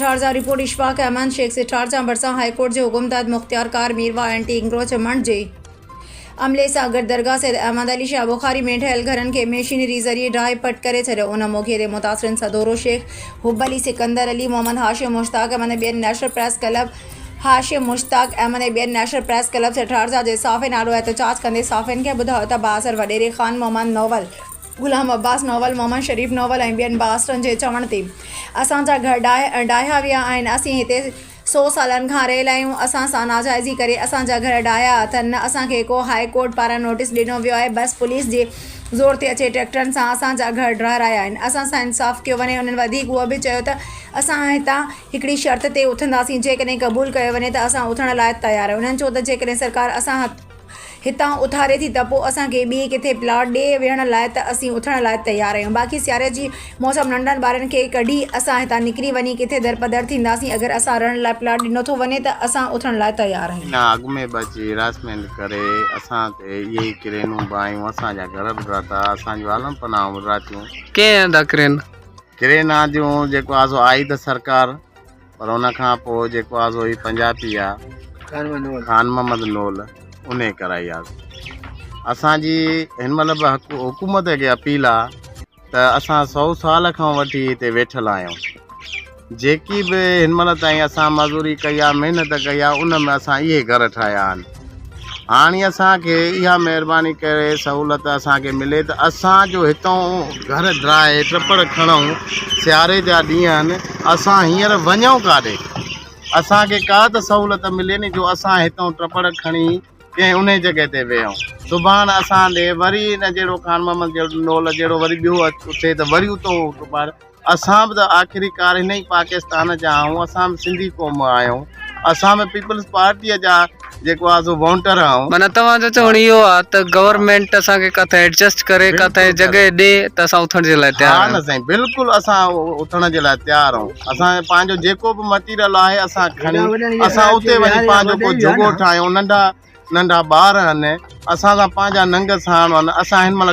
ٺارزان، report Ashfaq Ahmed Shaikh سي ٺارزان ڀرسان هاء ڪورٽ جي حڪم تحت مختيار ڪار ميرواهه اينٽي انڪروچمنٽ جي عملي سان گڏ درگاهه سيد احمد علي شاهه بخاري ۾ ٺهيل گهرن کي مشينري ذريعي ڊاهي پٽ ڪري ڇڏيو ان موقعي تي متاثرين سدورو شيخ، حب علي، سڪندر علي، محمد هاشم، مشتاق احمد ۽ ٻين national press club, Hashim Mushtaq Ahmed ۽ ٻين نيشنل پريس ڪلب سيٺ هارزا جي صحافين آڏو احتجاج ڪندي صحافين کي ٻڌايو ته بااثر وڏيري خان محمد نوول، غلام عباس نوول، محمد شريف نوول ۽ ٻين بااثرن جي چوڻ تي اسان جا گهر ڊاهيا ويا آهن، اسين هتي سو سالن کان رهيل آهيون، اسان سان ناجائزي ڪري اسان جا گهر ڊاهيا اٿن، نه اسان کي ڪو هاء ڪورٽ پاران نوٽيس ڏنو ويو آهي، بس پوليس جي زور تي اچي ٽريڪٽرن سان اسان جا گهر ڊاهرايا آهن، اسان سان انصاف ڪيو وڃي، انهن وڌيڪ اهو به چيو ته اسان هتان هڪڙي شرط تي اٿنداسين، جيڪڏهن قبول ڪيو وڃي ته اسان اٿڻ لاء تيار آهيون. انهن چيو ته جيڪڏهن سرڪار اسان هتان اٿاري ٿي ته پوء اسان کي ٻئي ڪٿي پلاٽ ڏي ويهڻ لاء ته اسين اٿڻ لاء تيار آهيون. باقي سياري جي موسم ننڍڙن ٻارن کي ڪڍي اسان هتان نڪري وڃي ڪٿي درپدر ٿينداسين. اگر اسان رهڻ لاء پلاٽ ڏنو ٿو وڃي ته اسان اٿڻ لاء تيار آهيون. ان اڳ ۾ به اچي هراسمينٽ ڪري اسان تي اهي ئي ڪرينون به آيون. اسان جا گهر به ڊاتا، اسان جون عالم پناهون به ڊاتيون. ڪنهن هنڌ اڪرين ڪرين آنديون جيڪو آ سو آئي ته سرڪار پر ان کان پوء جيڪو آ سو هي پنجابي آ خان محمد نول ان ڪرائي آ اسان جي هن مهل به حڪومت کي اپيل آ ته اسان سو سال کان وٺي هتي ويٺل آهيون جيڪي به هن مهل تائين اسان مزوري ڪئي آ محنت ڪئي آ ان ۾ اسان اهي گهر ٺاهيا آهن هاڻي اسان کي اها مهرباني ڪري سهولت اسان کي ملي ته اسان جو هتون گهر ڊرائي ٽپڙ کڻون سياري جا ڏينهن آهن اسان هينئر وڃون ڪاڏي اسان کي ڪا ته سهولت ملي ني جو اسان هتون ٽپڙ کڻي ڪنهن انهي جڳهه تي ويهون سڀاڻ اسان ڏي وري ان جهڙو خان محمد جهڙو نول جهڙو وري ٻيو اٿي ته وري اتو ٽپڙ اسان به ته آخرڪار هن ئي پاڪستان جا آهيون اسان به سنڌي قوم آهيون اسان به پيپلز پارٽيء جا جيڪو آهي سو وونٽر آهيون. معنيٰ توهان جو چوڻ اهو آهي ته گورنمينٽ اسان کي ڪٿي ايڊجسٽ ڪري ڪٿي جڳهه ڏي ته اسان اٿڻ جي لاء تيار آهيون. ها نه سائين بلڪل اسان اٿڻ جي لاء تيار آهيون اسان پنهنجو جيڪو به مٽيريل آهي اسان کڻي اسان اتي وڃي پنهنجو ڪو جهڳو ٺاهيون ننڍا ننڍا ٻار آهن اسان سان پنهنجا ننگ ساڻ آهن اسان هن مهل